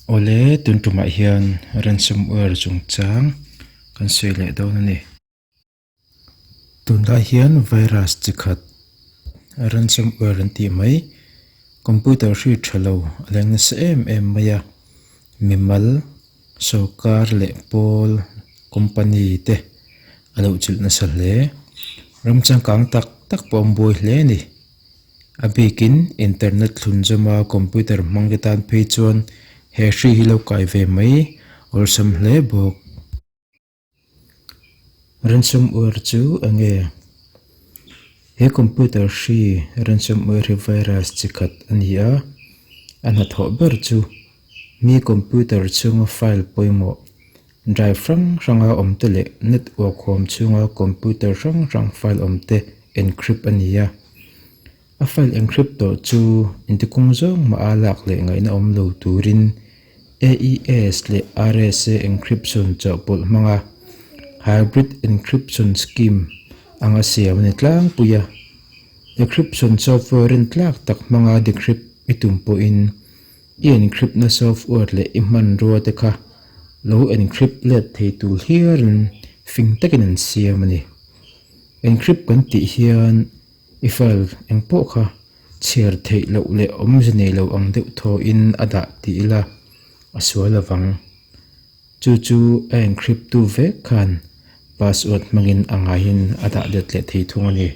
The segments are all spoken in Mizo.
Awle tun tumah hian Ransom Oil chungchang kan sawi leh dawn a ni. Tunlai hian virus chi khat Ransom Oil an tih mai, computer hriat tha lo a leng nasa em em mai a, mimal-- Sawrkar leh pawl company te a lo chilh nasa hle. Ram changkang tak tak pawh an buai hle a ni. A bikin internet thlun zawm a, computer hmang te tan phei chuan he hri hi lo kai ve mai awlsam hle bawk. Ransomware chu a nge? He computer hri ransomware hi virus chi khat a ni a, a hnathawh ber chu mi computer chhunga file pawimawh, drive hrang hranga awmte leh network huam chhunga computer hrang hrang file awmte encrypt a ni a. A file encrypt tawh chu inti kung zawng maha lak leh ngaihna awm lo turin AES leh RSA encryption chawhpawlh hmanga hybrid encryption scheme anga siam a ni tlangpui a. Decryption software rin tlak tak hmanga decrypt i tum pawhin i encrypt-na software leh i hmanrua te kha lo encrypt let thei tur hialin fing takin an siam a ni. Encrypt kan tih hian, I file eng pawh kha chhiar theih loh leh awmze nei lo ang deuh thawhin a dah tih ila a sual avang. Chu chu a encrypttu vek khan password hmangin a ngaiin a dah let leh thei thung a ni.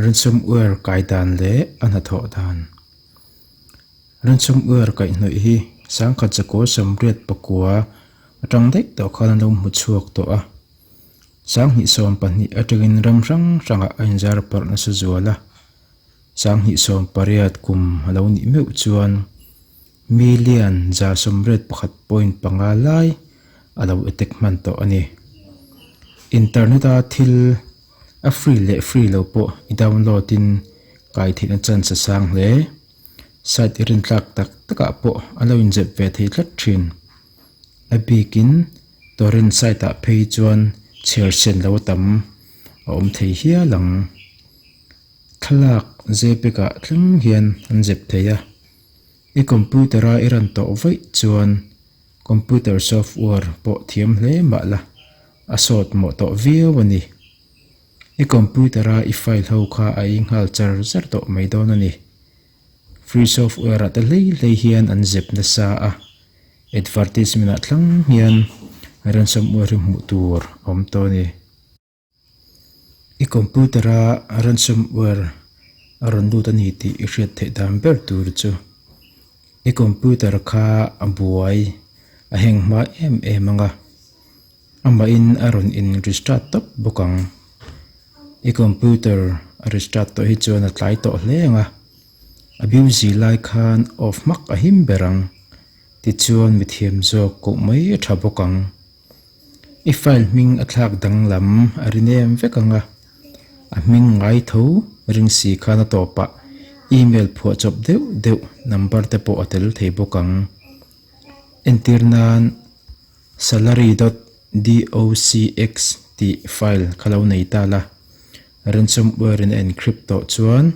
Ransomware kai dan leh a hnathawh dan. Ransomware kaih hnawih hi sangkhat zakawlsam riat pakua atang daih tawh khan a lo hmu chhuak tawh a. Sanghnih sawm pahnih atangin ram hrang hrangah a inzar parh nasa zual a, Sanghnih sawm pariat kum a lo nih meuh chuan million zar sawm red pakhat point panga lai a lo attack hman tawh a ni. Internet a thil a free leh free lo pawh i download in kaihtheihna chance a sang hle, site i rintlak tak takah pawh a lo inzep ve thei tlat thin. a bikin Torrent side ah phei chuan chhiar chen lo tam a awm thei hial ang thlalak zpek ah thleng hian an zep thei a i computer a i rawn tawh vaih chuan computer software pawh thiam hle mah la a sawt mawh tawh viau a ni i computer a i file ho kha a inghal char zar tawh mai dawn a ni. Free software ah te hlei hlei hian an zep nasa a, advertisement ah thlang hian ransomware hi hmuh tur a awm tawh a ni. I computer a ransomware a rawn lut a ni tih i hriat theih dan ber tur chu i computer kha a buai a hang hma em em ang a. Amahin a rawn inrestart tawp bawk ang. I computer a restart tawh hi chuan a tlai tawh hle ang a. A busy lai khan off hmak a him ber ang. Tichuan mithiam zawk koh mai a tha bawk ang. I file hming a thlak danglam a rin em vek ang a. A hming ngai tho ring si khan a tawpah email phuah chawp deuh deuh number te pawh a tel thei bawk ang. Entir nan Salary dot docx tih file kha lo nei ta la, ransomware in a encrypt tawh chuan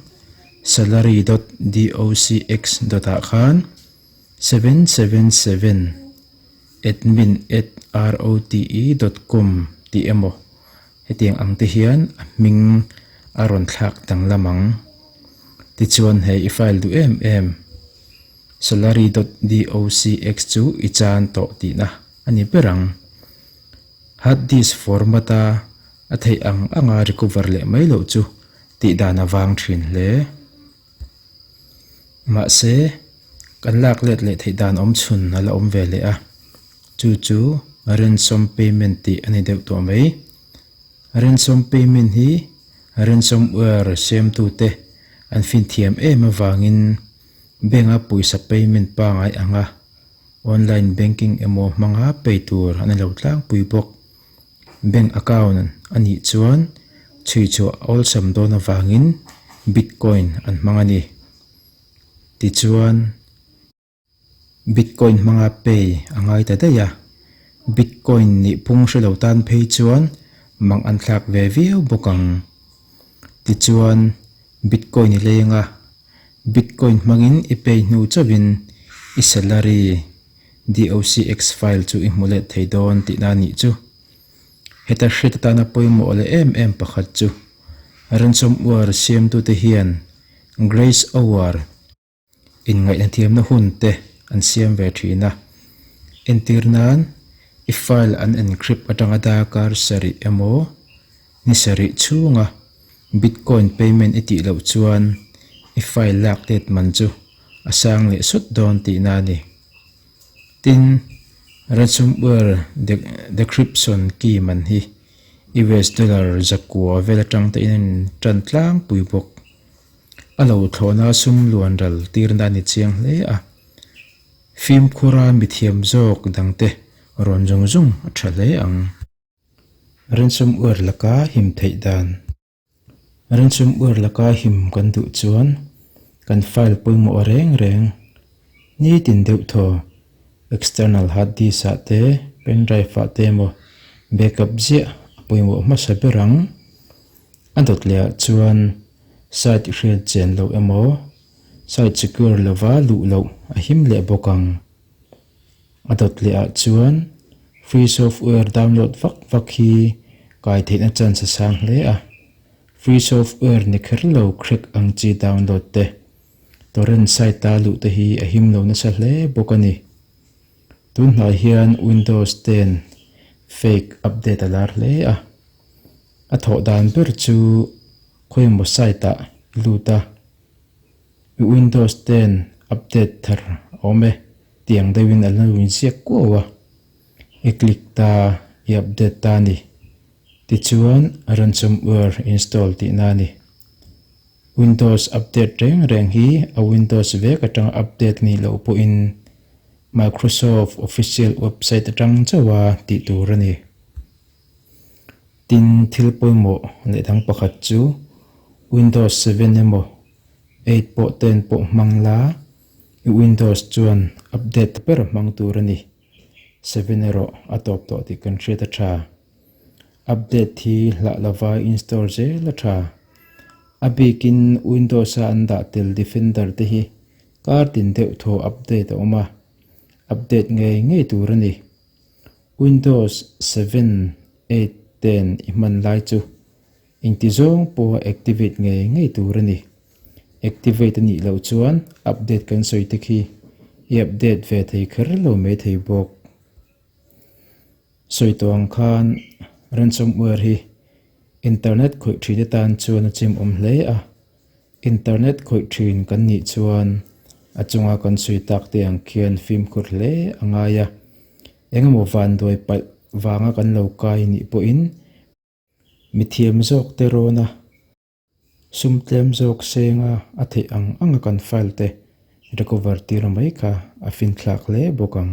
salary dot docx dot ah khan seven seven seven admin at rote dot com tih emaw Hetiang ang te hian a hming a rawn thlak danglam ang. Tichuan hei i file duh em em. Salary dot docx chu i chan tawh tihna a ni ber ang. Hard disk format a a theih ang anga recover leh mai loh chu tih dan a vang thin hle. Mahse, kan lak let leh theih dan awm chhun a la awm ve leh a, chu chu Ransom Payment tih a ni deuh tawh mai. Ransom Payment hi Ransomware siamtute an finthiam em avangin bank-a pawisa payment pangai anga online banking emaw hmanga pei tur a ni lo tlangpui bawk. Bank account a nih chuan chhui chu a awlsam dawn avangin Bitcoin an hmang a ni. Tichuan, Bitcoin hmanga pay a ngai ta daih a, Bitcoin nih pung hre lo tan phei chuan mang an thlak ve viau bawk ang. Tichuan, Bitcoin i leng a, Bitcoin hmangin i pay hnu chauhin i salary DOCX file chu i hmu let thei dawn tih na nih chu. Heta hriat atana pawimawh leh em em pakhat chu Ransom ware siamtute hian Grace Awar in ngaihna thiamna hun te an siam ve thin a. Entir nan i file an encrypt atanga darkar sarih emaw Ni sarih chhunga Bitcoin payment i tih loh chuan i file lak let man chu a sang leh sawt dawn tihna a ni. Tin, Ransomware decryption key man hi US dollar zakua vel atang te in a inṭan tlangpui bawk. A lo thlawhna sum luanral tirna a ni chiang hle a. Fimkhura mithiam zawk dangte rawn zung zung a ṭha hle ang. Rensum uar laka him theih dan. Rensum uar laka him kan duh chuan kan file pawimawh reng reng nitin deuh thaw external hard disk ah te pen drive ah te emaw backup ziah a pawimawh hmasa ber ang. A dawt leh ah chuan site hriat chen loh emaw site secure lova luh loh a him leh bawk ang. A dawt leh ah chuan free software download vak vak hi kai theihna chance a sang hle a. Free software ni kher lo crack ang chi download te, torrent site a luh te hi a him lo nasa hle bawk a ni. Tunhnai hian Windows ten fake update a lar hle a. A thawh dan ber chu khawi emaw site ah i lut a. Windows ten update thar a awm e, Tiang deuhin a lo inziak kuau a, I click ta, I update ta a ni. Tichuan ransomware install tihna a ni. Windows update reng reng hi a Windows vek atanga update nih loh pawhin Microsoft official website atang chauha tih tur a ni. Tin, thil pawimawh leh dang pakhat chu Windows seven emaw eight pawh ten pawh hmang la, Windows chuan update ta ber hmang tur a ni. Seven erawh a tawp tawh tih kan hriat a tha. Update hi hlah lova install zel a tha. A bikin Windows a an dah tel Defender te hi kar tin deuh thaw update a awm a, update ngei ngei tur a ni. Windows seven, eight, ten i hman lai chu. Engti zawng pawha activate ngei ngei tur a ni. Activate a nih loh chuan update kan sawi te khi i update ve thei kher lo mai thei bawk. Sawi tawh ang khan ransomware hi internet khawih thite tan chuan a chimawm hle a. Internet khawih thin kan nih chuan a chunga kan sawi tak te ang khian fimkhur hle a ngai a. Engemaw vanduai palh vanga kan lo kai nih pawhin-- Mithiam zawk te rawna sum tlem zawk senga a theih ang anga kan file te recover tirah mai kha a fin thlak hle bawk ang.